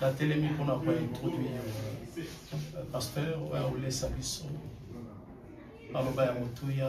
natelemi mpona kointroduire euh, pasteur oyo akolesa biso maloba ya motuya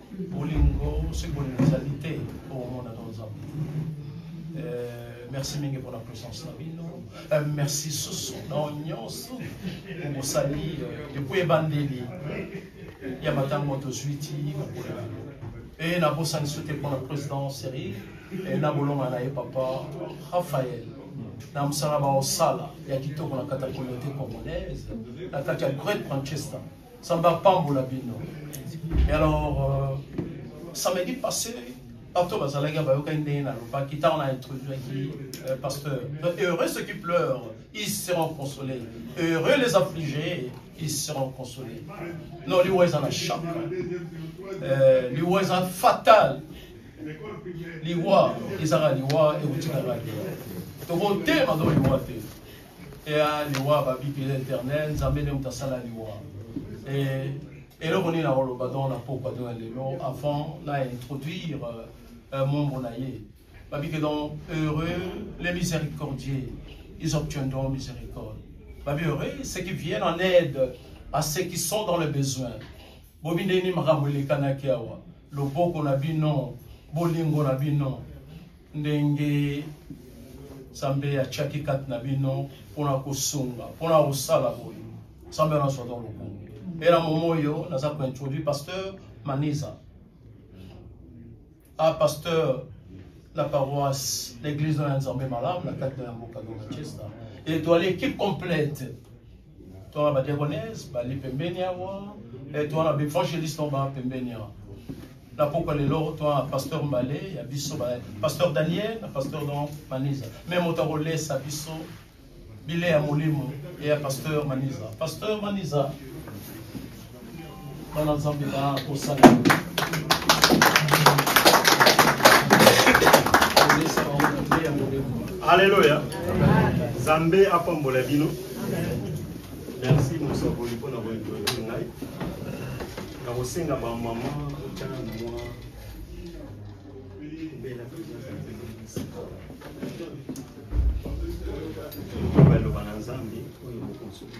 bolingo soki bolingo ezali te okomona to nzambe eh, merci mingi mpona présence na bino eh, merci susu na nyonso bosali eh, depuis ebandeli ya matango tozwi ti bakola bino e nabosani so te mpona président serie e na bolonga na ye papa raphael na mosala baosala ya kitoko na kati ya communauté congolaise na kati ya great manchester Nzambe apambola bino. Et alors, euh, samedi passé, bato bazalaki bayokaki ndenge nalobaki ntango na introduaki euh, pasteur heureux ceux qui pleurent ils seront consolés heureux les affligés ils seront consolés non liwa eza na choc euh, liwa eza fatal liwa ezaka liwa ekotikaka te tokotelema to liwa te ya liwa babi pele internet nzambe nde moto asala liwa eh, eloko nini nakoloba donc na pokwa to na lelo avant na introduire euh, euh, membre na ye babi ke donc heureux les miséricordiers ils obtiendront miséricorde babi heureux ceux qui viennent en aide à ceux qui sont dans le besoin bobi nde nini makambo elekanaki awa loboko na bino bolingo na bino ndenge nzambe atiaki kati na bino mpona kosunga mpona kosala boye nzambe wana azwaka lokumu mpe na momo oyo naza kointroduire pasteur maniza a ah, pasteur la paroisse l'église na nzambe malamu na kati na ya mboka de manchester etoile équipe complète Toi, ma diagonesse, bali pembeni awa. Et toi, na b'evangeliste to ba pembeni awa. Na pokwa lelo, toi, pasteur Mbale, ya biso ba pasteur Daniel, na pasteur Don Maniza. Même moto akolesa biso bile ya molimo et ya pasteur Maniza. Pasteur Maniza, Bana Nzambe ba kosala. Alléluia. Zambe apambola bino. Merci mosakoli mpo na boyekoli ngai. Nakosenga ba mama otala na mwa bela baloba na Nzambe oyo bokonsuki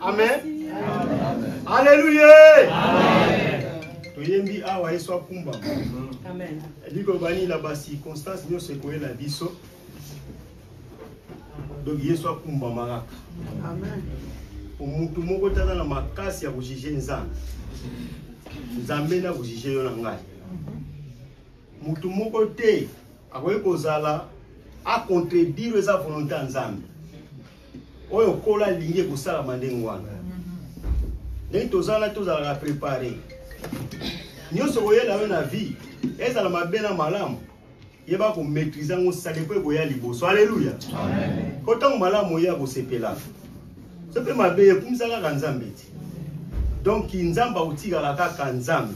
amen aleluya toyembi awa yesu akumbama elingi koloba nini na bacirconstance nyonso ekoyela biso donc yesu akumbama kaka motu moko te aza na makasi ya kojuge nzambe nzambe nde akojuge yo na ngai motu moko te akoki kozala akontredire eza volonté ya nzambe oyo okola alingi ekosalama ndenge wana ndenge toza wana tozalaka prepare nyonso koyela yo na vie ezala mabe na malamu yeba komaîtrise yango sale mpo ekoya liboso aleluya mpo ntango malamu oye akosepela so mpe mabe ekumisa kaka nzambe te donc nzambe akotikala kaka nzambe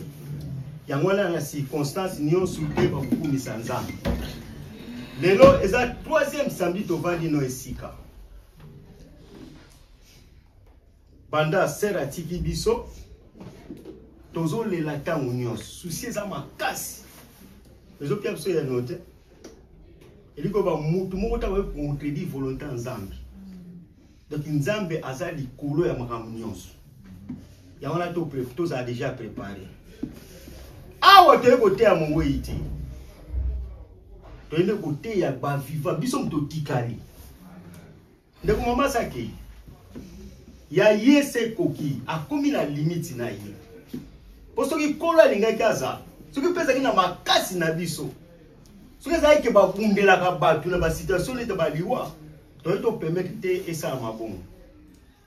yango wana na circonstance nyonso te bakokumisa nzambe lelo eza troisième samedi tovandi no esika banda sere atiki biso tozolela ntango nyonso susi eza makasi ezopia biso ya no te eliko bamutu moko ntango ekontredit volonté ya nzambe Donc Nzambe aza likolo ya makambo nyonso. Yango wana to tozala déjà préparé. Awa toye koteya mowei te. Toyende koteya ba vivant biso moto tikali. Ndeko mama sake ya ye se koki akomi na limite na ye. Po soki kolo alingaki aza soki mpe ezalaki na makasi na biso soki ezalaki ke babundelaka bato na basituation nete baliwa toyei topermetre te esalama bongo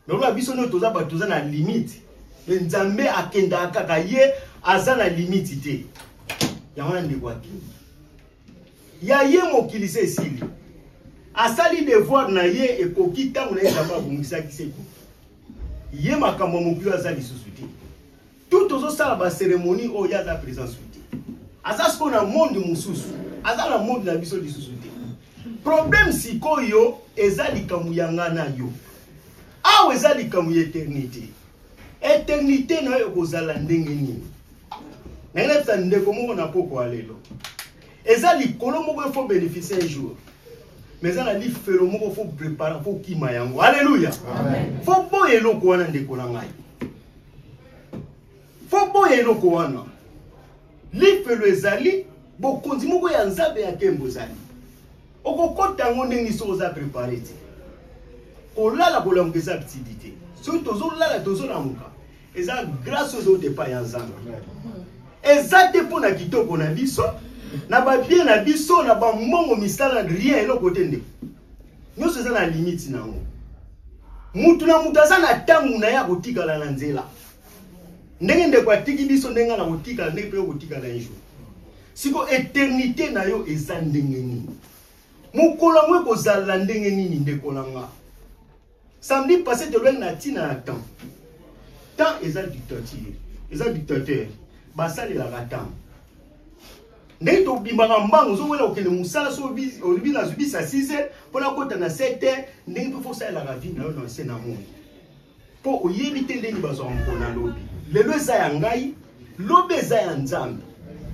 nakola biso nde toza bato toza na limite me nzambe akendaka kaka ye aza na limite te yango wana ndeko akende ya ye mokili se esili asali devoir na ye ekoki ntango na ye nzambe abongisaki se ekoki ye makambo ya mokili aza lisusu te tout tozosala baceremonie oyo ye aza présence te aza sikoyo na monde mosusu aza na monde na biso lisusu te problème sikoyo eza likambo ya nga na yo awa eza likambo ya eternité eternité na yo ekozala ndenge nini nange nayebisa ndeko moko na pokwa lelo eza likolo moko efo bénéficie un jour mais eza na lifelo moko fo prépare fo kima yango alleluya fo boya eloko wana ndeko na ngai fo boya eloko wana lifelo ezali bokonzi moko ya nzambe ya nkembo ezali okokota yango ndenge soki oza prepare te kolala kolamuka eza btidi te soki tozolala tozolamuka eza grâce aux autres epai ya nzambe eza te mpo na kitoko na biso na babie na biso na bambongo misala rien eloko te ndeko nyonso eza na limite na yango mutu na mutu aza na ntango na ye akotikala na nzela ndenge ndeko atiki biso ndenge na kotikala ndenge mpe okotikala un jour siko eternité na yo eza ndenge nini mokolo yango ekozala ndenge nini ndeko na nga samedi passé tolobaki na ntina ya temps temps eza dictature eza dictateur basalelaka temps ndenge tobimaka mbango ozowela kokende mosala so olobi nazwi bisa 6 heure mpo nakota na 7 heure ndenge mpe fosalelaka vi na yo na nse na moi mpo oyebi te ndenge bazwaka mpona lobi lelo eza ya ngai lobi eza ya nzambe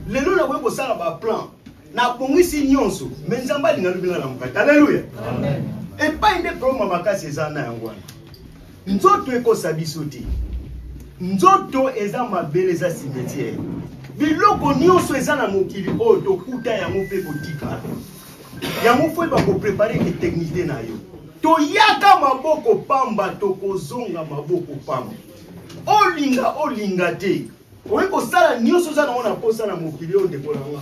lelo nakoki kosala baplan nabongisi nyonso me nzambe alinga lobi na na mokati aleluya epai nde problema makasi eza na yango wana Nzoto ekosa biso te. Nzoto eza mabele eza cimetière. Biloko nyonso eza na mokili oyo tokuta yango mpe kotika. Yango fo eba koprepare ke teknite na yo. Toyaka maboko pamba tokozonga maboko pamba. Olinga olinga te. Oye kosala nyonso oza nango na posa na mokili oyo ndeko na nga.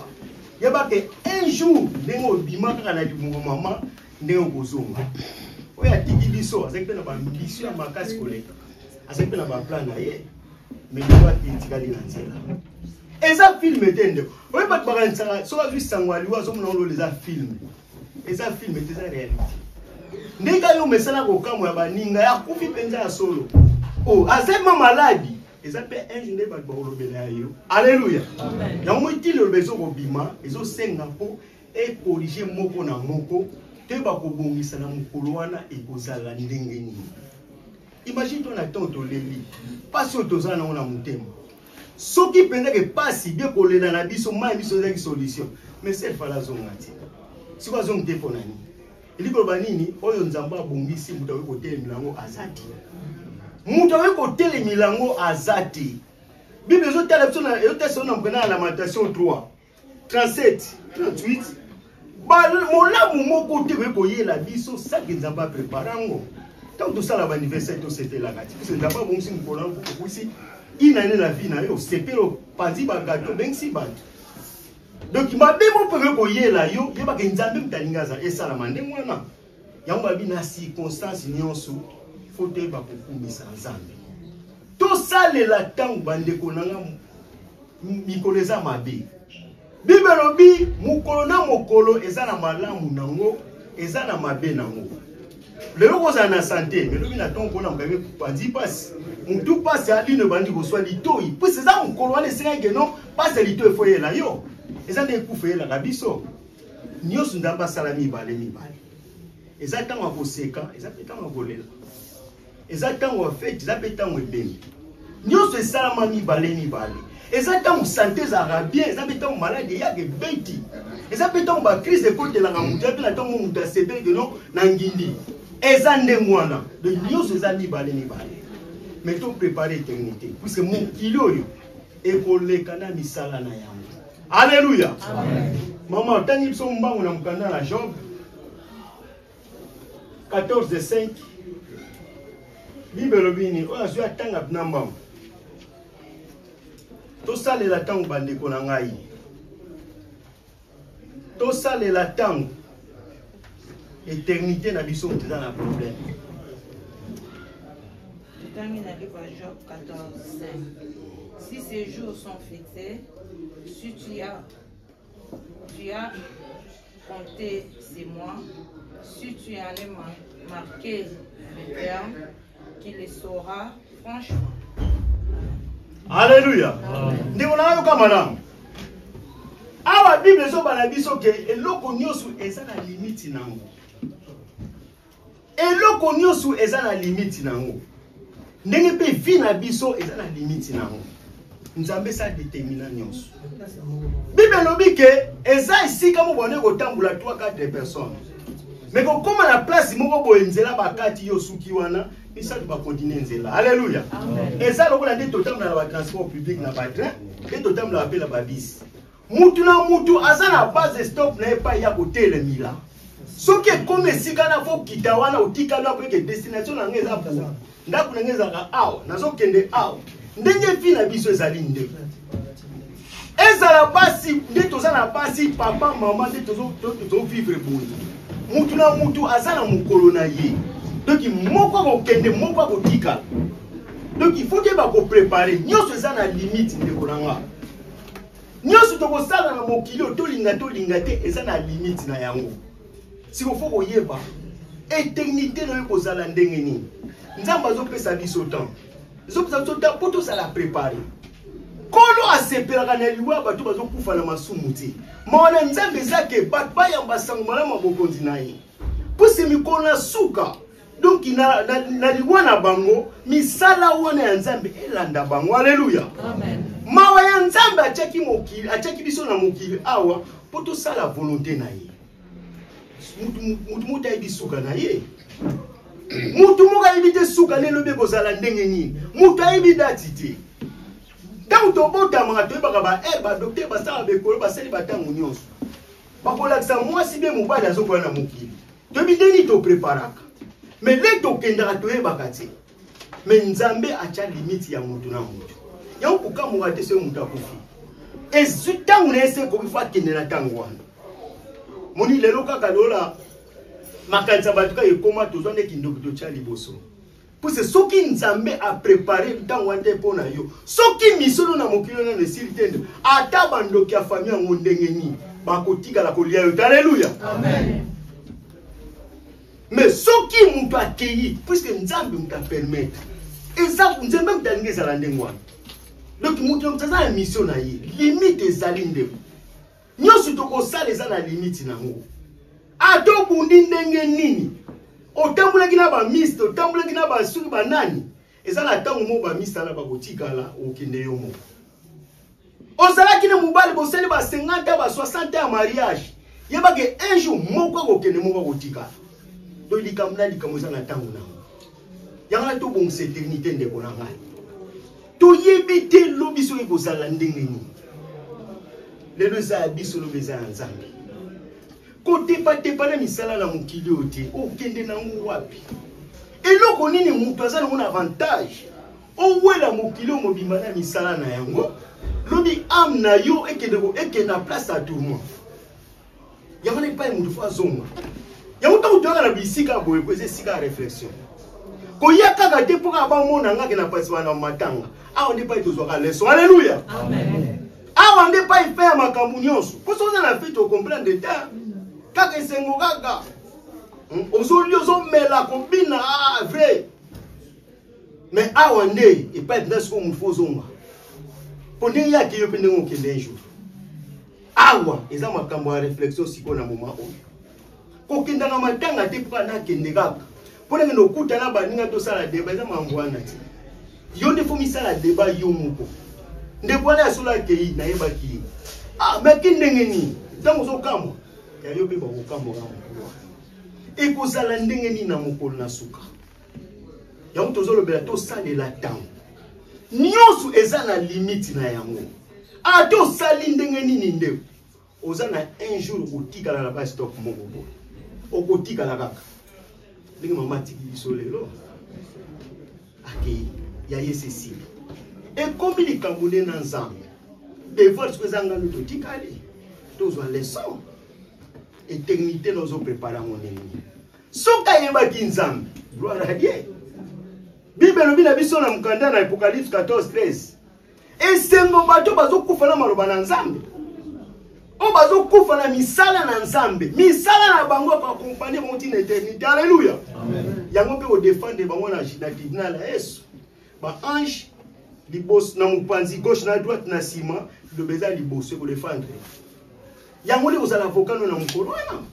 Yeba ke un jour ndenge obima kaka na libumu mama ndenge okozonga oyo atiki biso azali mpe na bambisio ya makasi koleka azali mpe na baplan na ye mais liwa te etikali na nzela eza filme te ndeko oyo bato bakanisaka soki azwi sango ya liwa azomona ngo lola eza filme eza filme te eza réalité ndenge kaka yo mesala kokamwa ya baninga ya kufi mpenza ya solo o oh, azema maladi eza mpe ange nde bato bakolobela ya yo alleluya yango moi ntina eloba ezokobima ezosenga mpo ecorrige moko na moko mpe bakobongisa na mokolo wana ekozala ndenge nini imagine to na ntango toleli mpasi oyo toza nango na motema soki mpenzaki mpasi bie kolela na biso mai biso ezalaki solution mais sel fala azonga te sikoyo azongi te mpo na nini elingi koloba nini oyo nzambe abongisi moto akoki kotelemela yango aza te moto akoki kotelemela yango aza te bible ezotala biso ezotala biso na mpena ya lamentation 3 37 38 molamu moko te oye koyela biso saki nzambe aprepare yango ntango tosala baaniversaire tosepelaka ti biso nzambe abongisi mokolo yango okokusi inane na vie na yo osepeli opanzi bagato obengisi bato donk mabe moko mpe oye koyela yo yebaka nzambe moto alingi aza esalama ndenge wana yango babi na circonstance nyonso fo toyeba kokumisa nzambe tosalela ntango bandeko na nga mikolo eza mabe bible elobi mokolo na mokolo eza na malamu nango eza na mabe nango lelo kozala na sante melobi na ntongo mpona mokami panzi mpasi motu mpasi alino ebandi koswa litoi mpasi eza mokolo wana esengaki keno mpasi ya litoi efo eyela yo eza nde ekufa eyelaka biso nyonso nzambe asala mibale mibale eza ntango ya koseka eza mpe ntango ya kolela eza ntango ya feti eza mpe ntango ebembi nyonso esalama mibale mibale eza ntango sante ezalaka bien eza mpe ntango maladi eyaka ebeti eza mpe ntango bakrise ekotelaka moto ya mpe na ntango moto asepeli keno na ngindi eza ndenge wana de nyonso eza mibale mibale mais to prépare eternité puisque mokili oyo ekoleka na misala na yango Alléluia. Amen. Maman, otangi biso mbangu na mokanda na Job 14 5 bible elobi nini oyo azwi atanga bina mbangu tosalela ntango bandeko na ngai tosalela ntango eternité na biso moto eza na problème totangi na livre ya job 14 5 si ces jours sont fixés si tu as tu as compté ces mois si tu en es marqué le terme qui le saura franchement. Alléluia. Ndeko na yoka malamu. Awa Bible ezoba na biso ke eloko nyonso eza na limite na yango. Eloko nyonso eza na limite na yango. Ndenge mpe vie na biso eza na limite na yango. nzambe esa determina nyonso bible elobi ke eza esika moko bande kotambula 3 4 personnes me kokóma na place moko boye nzela bakati yo osuki wana misato bakontinue nzela alleluya eza lokola nde totambola na batransport public na batrain nde totambolaka mpe na babisi mutu na mutu aza na base stop na ye epai ya kotelemila soki ekomi esika na kokita wana otikali wana poyeke destination na ngai eza kuna ndako na ngai ezalaka awa nazokende awa ndenge vi na biso ezali nde ezala basi nde toza na basi papa mama nde tozovivre boye mutu na mutu aza na mokolo na ye donc moko akokende moko akotikala donc il faut keba koprepare nyonso eza na limite ndeko na ngai nyonso tokosala na mokili oyo tolinga tolinga te eza na limite na yango siko fo koyeba eternité na yo kozala ndenge nini nzambe azopesa biso temps ezopesa biso temps mpo tozala prépare nkolo asepelaka na liwa ya bato bazokufa na masumu te mawa na nzambe eza ke bato bayamba sango malamu ya bokonzi na ye mpo se mikolo na suka donc na, na, na liwa na bango misala wana ya nzambe elanda bango aleluya mawa ya nzambe atyaki mokili atyaki biso na mokili awa mpo tosala volonte na ye motu moto ayebi suka na ye motu moko ayebi te suka na elobi ekozala ndenge nini moto ayebi dati te ntango tobotamaka toyebaka ba eh, badoktere basala bekolo basali bantango nyonso bakolakisa mwasi be mobali azokola na mokili toyebi nde nini topreparaka me nde tokendaka toyebaka te me nzambe atya limite ya moto na moto yango kokamwaka te soki moto akufi ezwi ntango na ye se ekoki fo akende na ntango wana moni lelo kaka lola makanisa bato kaka ekoma tozwa nde kindoki totya liboso puse soki nzambe aprepare ntango wana te mpo na yo soki misolo na mokili oyo nano esili te nde ata bandoki ya fami yango ndenge nini bakotikala kolia yo te aleluya me soki moto akei puiske nzambe moto apermetre eza nzambe moto alingi ezala ndenge wana donc moto aza ya misio na ye limite ezali ndeko nyonso tokosala eza na limite nango ata obundi ndenge nini otambulaki na bamiste otambulaki na basuki banani eza na ntango moko bamisala bakotikala okende yo moko ozalaki na mobali bosali ba 50 ba 60 ya mariage yebake un jour moko akokende moko akotikala to likambo na likambo eza na ntango nango yango na tobongisa eternité ndeko na ngai toyebi te lobi soki kozala ndenge nini lelo eza ya biso lobi eza ya nzambe kotepatepa na misala na mokili oyo te okende nango wapi eloko nini moto aza nango na avantage owela mokili oyo mobimba na misala na yango lobi ame na yo ekende ekende na place ya tourment yango na epai moto fo azonga yango ntango toyaka na bisika ya boye po eza esika ya réflexion koya kaka te mpo kaka bamona ngake na pasiba na matanga awa nde epai tozwaka leson alleluya awa nde epai fe ya makambo nyonso mpo soki oza na fete okomprendre te kaka esengo kaka hmm, ozoli ozomela kobina ah, vrai mais awa nde epai mpenza sikoyo motu fo ozonga mpo ndenge yake yo mpe ndenge okende un jour awa eza makambo ya réflexion sikoyo na moma oyo kokendaka matanga te mpo nakende kaka mpo nakende okuta na baninga tosala deba eza mambo wana te yo nde fo misala deba yo moko ndeko wana ya solo akei nayebaki ye ah, maki ndenge nini ntango ozokamwa yayo mpe bakokamwa na mokolo wana ekozala ndenge nini na mokolo na suka yango tozolobela tosalela ntango nyonso eza na limite na yango ata osali ndenge nini ndeko oza na un jour okotikala na ba stop moko boye okotikala kaka ndenge mama atiki biso lelo akei ya ye cecile ekomi likambo nde na nzambe devoir soki eza ngano totikali tozwa leson eternité na ozoprepare yango ndenge soki ayebaki nzambe gloire a dieu bible elobi na biso na mokanda na apocalypse 14 13 esengo bato bazokufa na maloba na nzambe oyo bazokufa na misala na nzambe misala na bango ekoakompanye bango ntina eternité alleluya yango mpe kodefendre bango na tribunal ya yesu ba ange liboso na mopanzi gauche na droite na nsima liloba eza liboso ekodefendre yango nde kozala avocat no na mokolo wana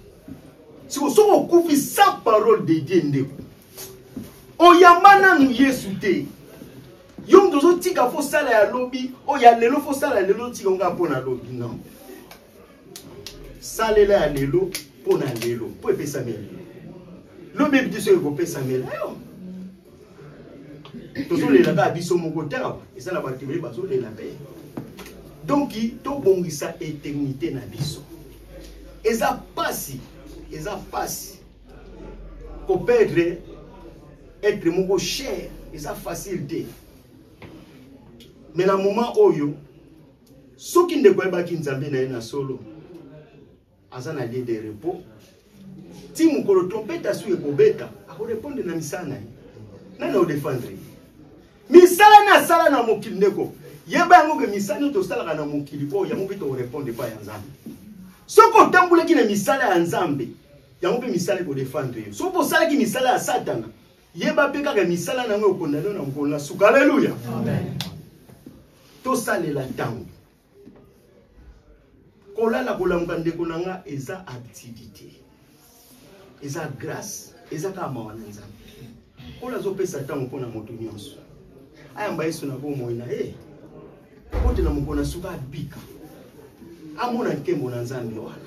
siko soki okufi sans parole de dieu ndeko oyamba nanu yesu te yo moto ozotika fo sala ya lobi oyo ya lelo fo sala ya lelo otika ngai mpo na lobi non salela ya lelo mpo na lelo mpo epesami ya lelo lobi ebi te soki ekopesamela yo tozolela kaka biso moko te awa eza na bato ebele bazolela mpe donk tobongisa eternité na biso eza mpasi eza mpasi koperdre être moko cher eza facile te mais na moment oyo soki ndeko ayebaki nzambe na ye na solo aza na lieu de repos ti mokolo trompete asu ekobeta akorepondre na misala na ye nani odefendre ye misala nde asala na mokili ndeko yeba yango ke misala nio tosalaka na mokili oyo yango mpe tokorepondre epai ya nzambe soki otambolaki na misala ya nzambe yango mpe misala ekodefendre yo soki osalaki misala ya satana yeba mpe kaka misala na yango ekondane na mokolo na suka aleluya tosalela ntango kolala kolamuka ndeko na nga eza activité eza grâce eza kaka mawa na nzambe nkolo azopesa ntango mpo na moto nyonso ayamba yesu na bomoi na ye akotela mokolo na suka abika amona nkembo na nzambe wana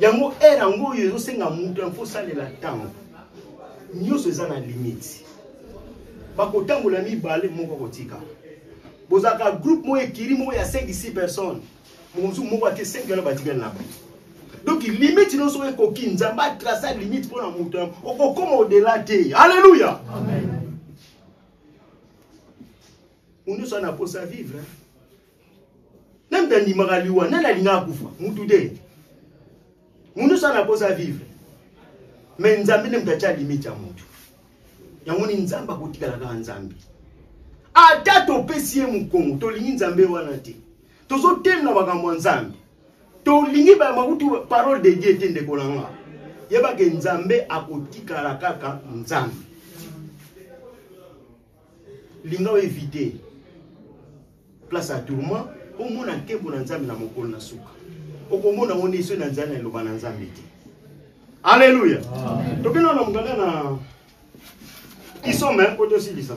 yango heure yango oyo ezosenga moto yango osalela ntango nyonso eza na limite bakotambola mibale moko akotika bozalaka groupe moko ekiri moko ya 5 6 personnes mokonzi moko ate 5 wana batikali na bo donc limite nyonso oyo ekoki nzambe atrace limite mpo na moto yango okokoma odela te alleluya moto nyonso ana mposa vivre nani tandimaka liwa nani alingaka kufa mutu te mutu sana akosa vivre me nzambe nde moto atya limite ya motu yango ni nzambe akotikala kaka nzambe ata topesi ye mokongo tolingi nzambe wana te tozotemela makambo ya nzambe tolingi bamakutu parole de dieu te ndeko na nga yebake nzambe akotikala kaka nzambe linga o éviter place ya tourment omona nkembo na nzambe na mokolo na suka okomona ngo nde soki na nzala na eloba na nzambe te alleluya tokenda na mokanda na isome mpo tosilisa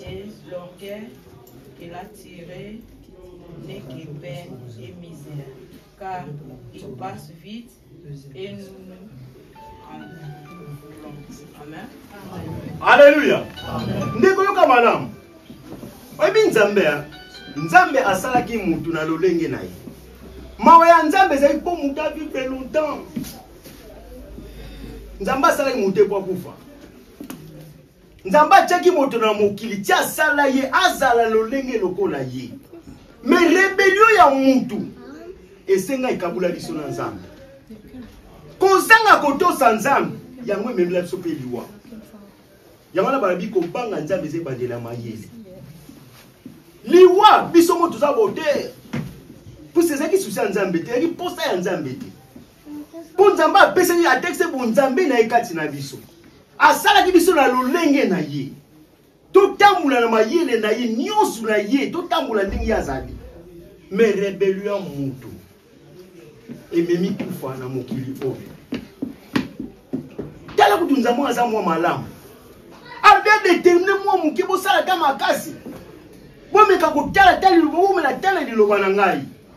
James Blonquet, qu'il a tiré n'est que peine et misère, car il passe vite et nous Alléluia. Ndeko yoka malamu. Oyebi Nzambe ya Nzambe asalaki mutu na lolenge na ye. Mawa ya Nzambe ezali mpo mutu avive longtemps. Nzambe asalaki mutu te mpo akufa. nzambe atyaki moto na mokili ti asala ye azala lolenge lokola ye me rebelio ya mutu esenga ekabula biso na nzambe kozanga kotosa nzambe yango ememela biso mpe liwa yango wana balobi kobanga nzambe eza ebandela mayele liwa biso mo toza botere mposa ezalaki susi ya nzambe te ezalaki mposa ya nzambe te mpo nzambe apesaki atekise bonzambe na ye kati na biso asalaki biso na lolenge na ye totambola na mayele na ye nyonso na ye totambola ndenge ye azali me rebelio ya moto ememi kufa na mokili oyo tala kutu nzambe oyo aza mwa malamu adedetermine mwa moke bosala ta makasi bomeka kotala tala liloba bomela tala liloba na ngai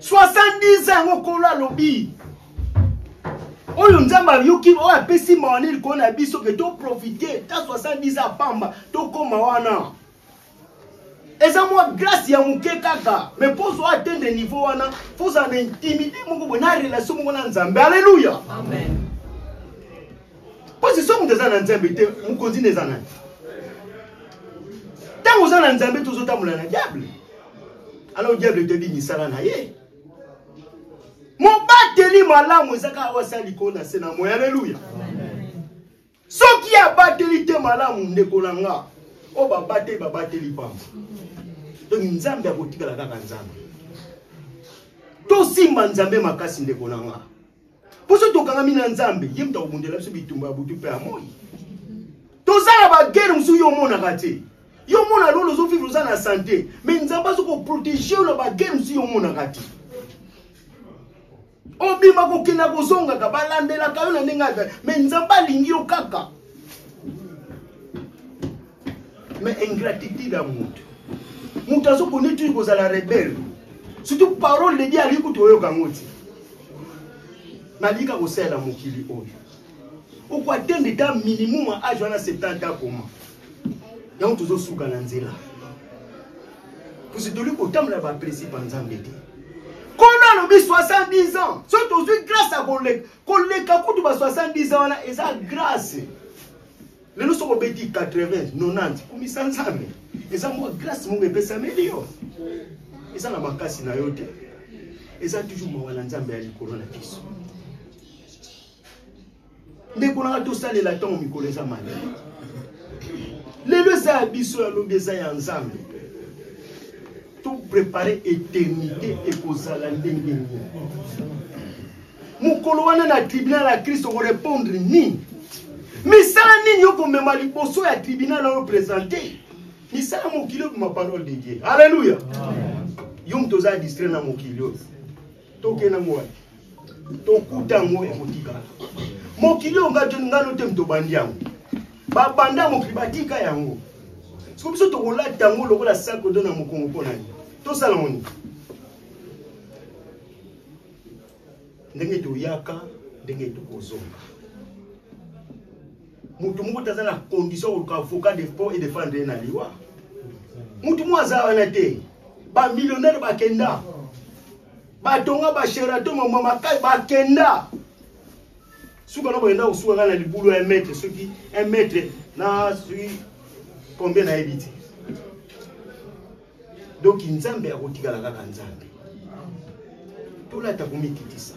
70 ans yango kolo alobi oyo nzambe ayoki oyo apesi mawa nini koo na biso ke toprofite ta 70 ans pamba tokóma wana eza mwa grâce ya moke kaka me mpo ozwa atteindre niveau wana fo ozala na intimité moko boye na relation moko na nzambe alleluya mpo si so moto eza na nzambe te mokonzi na eza nani ntango oza na nzambe tozotambola na diable alors diable etebi misala na ye mobateli malamu eza kaka oyo asala likolo na se na moi aleluya soki abateli te malamu ndeko na nga oyo babateli babateli pamba donc nzambe akotikala kaka nzambe tosimba nzambe makasi ndeko na nga poso tokangami na nzambe ye moto akobundela biso bitumba ya butu mpe ya moi toza na bagere mosusu yo omonaka te yo omona lolo ozovivre oza na sante mai nzambe azo koprotege yo na bagere mosusu yo omonaka te obima kokenda kozongaka balandelaka yo na ndenge ata mai nzambe alingi yo kaka mais ingratitude ya moto moto azokoni tuyi kozala rebele surtout parole de dieu alingi kutu oyoka yango ti nalingi kaka kosalela mokili oyo okoatende ta minimum ya age wana 70 akoma yango tozosuka na nzela pusi toli kotambola baprincipe ya nzambe te kono alobi 70 ans so tozwi grâce ya koleka koleka kutu ba 70 ans wana eza grâce lelo soki obeti 80 90 kumisa nzambe eza mwa grâce moko epesameli yo eza na makasi na yo te eza toujours mawa na nzambe ya likolo na biso ndeko nanga tosalela ntango mikolo eza mali lelo eza ya biso ya lobi eza ya nzambe toprepare eternité ekozala ndenge nini mokolo wana na tribunal ya kristo okorepondre nini misala nini okomema liboso ya tribunal oyo presente misala mokili okoma parole de dieu alleluya yo moto oza distrai na mokili oyo tokenda ngo wapi tokuta yango ekotikala mokili oyo ngano te moto obandi yango babanda mokili batika yango soko biso tokolata yango lokola sakodo na mokongo mpo na ye tosala moni ndenge toyaka ndenge tokozonga motu moko te aza na condition koluka avocat de po et defendre ye na liwa motu moko aza wana te bamillionnaire bakenda batonga basherato mamwa makai bakenda suka na boyenda kosuka ngai na libulu ya mètre soki un mètre na soki combien nayebi te donc nzambe akotikala kaka nzambe tolata komikitisa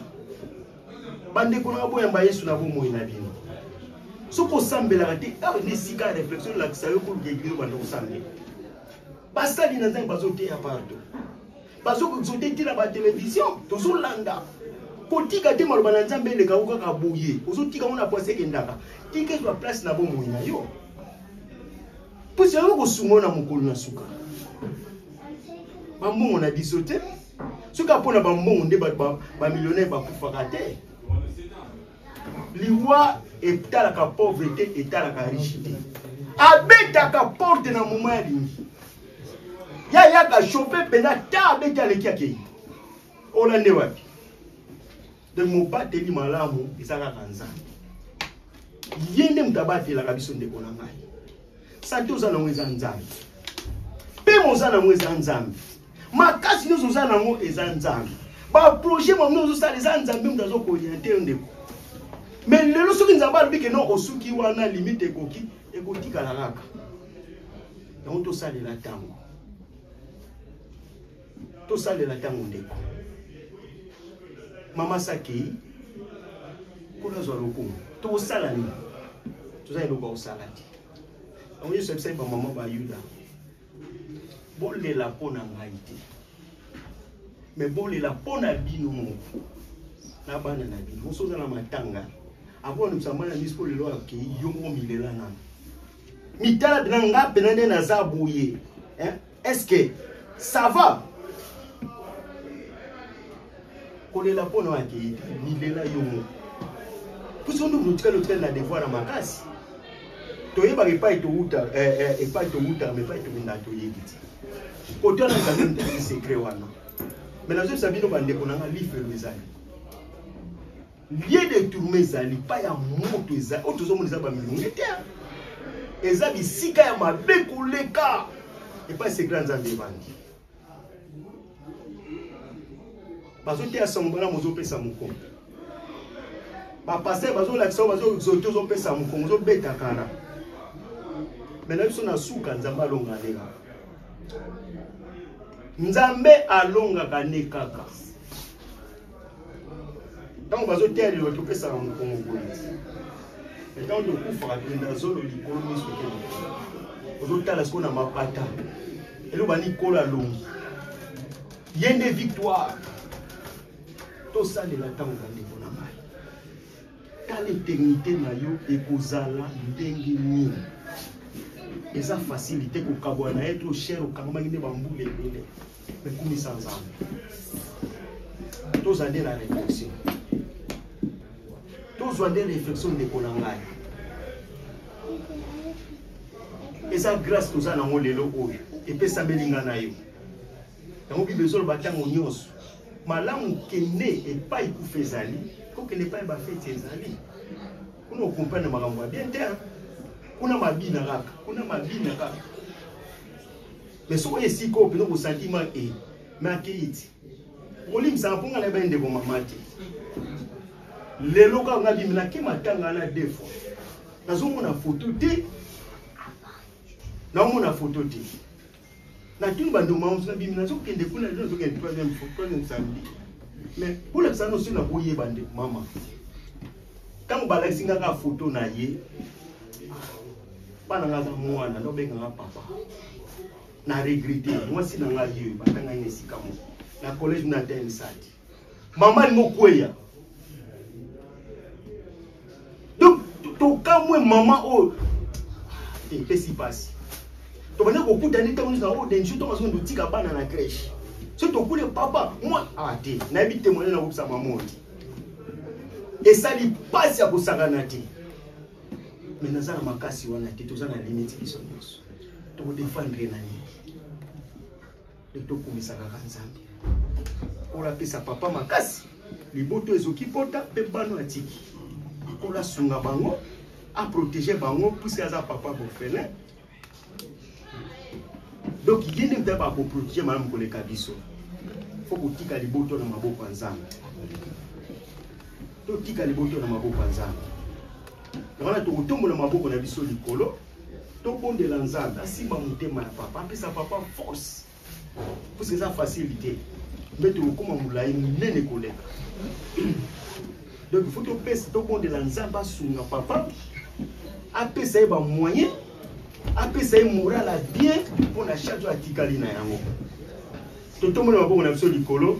bandeko na baboyamba yesu na bomoi na bino soki osambelaka te awa nde esika ya réflexion elakisa yo koluka eglise obanda kosambela basali na nzambe bazoteya partout bazokoexote te na batelevizio tozolanda kotika te maloba na nzambe eleka yo kaka boye ozotika ngo na pwasi ekendaka tika ezwa place na bomoi na yo Pusi yango kosunga yo na mokolo na suka. Bambongo na biso te. Soki apo na bambongo nde bato bamillionnaire bakufaka te. Liwa etalaka pauvreté etalaka riche te. Abetaka porte na moma ya lingi. Ya yaka chauffe mpenza ta abeti aleki akei. Ola nde wapi? donc mobateli malamu eza kaka nzambe ye nde moto abatelaka biso ndeko na ngai sante oza nango eza nzambe mpema oza nango eza nzambe makasi nyonso oza nango eza nzambe baprojet mamino ozosala eza nzambe moto azokoriente yo ndeko me lelo soki nzambe alobi ke no osuki wana limite ekoki ekotikala kaka yango tosalela ntango tosalela ntango ndeko mama sakei kuna azwa lokumu tokosala nini toza eloko ya kosala te yango yesu abisaki bamama bayuda bolela mpo na ngai te me bolela mpo na bino moko na bana na bino moso oza na matanga akona mosamba na miso mpo lelo akei yo moko milela nano mitala mpena nga mpena nde naza boye est-ce que ça va kolela mpo na oyo akei te milela yo moko puso nduku otikali otikali na devoir ya makasi toyebaka epai towuta eh, eh, epai towutaka ma epai tokendaka toyebi te kote wana ezali mtaki secret wana me nazoyebisa bino bandeko na nga lifelo ezali Lieu de tourne ezali pa ya moto ezali oyo tozomona eza bamilonge te eza bisika ya mabe koleka epai sekre ya nzambe ebandi bazoteya sango bana mozopesa mokongo bapaster bazolakisa oyo bazoexote ozopesa mokongo ozobeta kara me na biso na suka nzambe alonga nde kaka nzambe alongaka nde kaka ntango bazoteya liloba topesaka mokongo boye ntango tokufaka tokenda zolo likolo miso te ozotala sikoyo na mapata eloba likolo alongi ye nde victoire tosalela ntango bandeko na ngai tala eternité na yo ekozala ndenge nini eza facilité kokabwa na ye to chere okangamaki nde bambula ebele Mais kumbi sans nzambe tozwa nde na réflexion tozwa nde réflexion ndeko na ngai eza grâce toza nango lelo oyo epesameli ngai na yo yango bible ezoloba ntango nyonso malamu kende epai kufa ezali kokende epai bafeti ezali kuna okomprendre makambo ya bien te kuna mabina kaka kuna mabina kaka mais soki oye sikoyo mpenza kosantima e eh, me akeyi ti okolimbisaka mpo ngai nayebai ndeko mama te lelo kaka nga bimi nake matanga wana de fois nazomona foto te naomona foto te natuni bandeko mama mosu nabimi nazokende kuna lelo nazokende troisième samedi mais bolakisa nosi nakoyeba ndeko mama ntango balakisi nga kaka foto na ye bana nga aza mwana naobenga nga papa na regrete mwasi na nga ye batanga ye na esika moko na collège na tensati mama alingi okweya donc tokamwe mama oyo epesi mpasi tobandi kokutani ntango nyonso na oyo denjo ntango azongi totika bana na crèche soki tokule papa mwa ah te nayebi temoignage nakobisa mama oyo te esali mpasi ya kosakana te me naza na makasi wana te toza na limite biso nyonso tokodefendre na nini nde tokumisa kaka nzambe kola apesa papa makasi liboto ezoki pota mpe bano atiki kola asunga bango aprotege bango puiske aza papa bofelin donc ye nde mpe bakoprotege malamu koleka biso fo kotika liboto na maboko ya nzambe totika liboto na maboko ya nzambe na wana tokotombola maboko na biso likolo tobondela nzambe asimba motema ya papa apesa papa force puisque eza facile te mpe tokokoma molai monene koleka donc faut topesa tobondela nzambe asunga papa apesa ye bamoyen apesa ye moral ya bien mpo na charge atikali na yango totombola maboko na biso likolo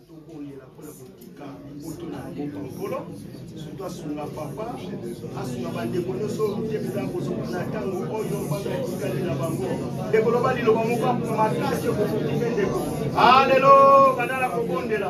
tokolela mpo na kotika mbutu na yango pankolo soki asunga papa asunga bandeko nyonso te mpenza kozonga na ntango oyo bana etikali na bango ndeko loba liloba moko makasi okofuki mpe ndeko alelo bandala kobondela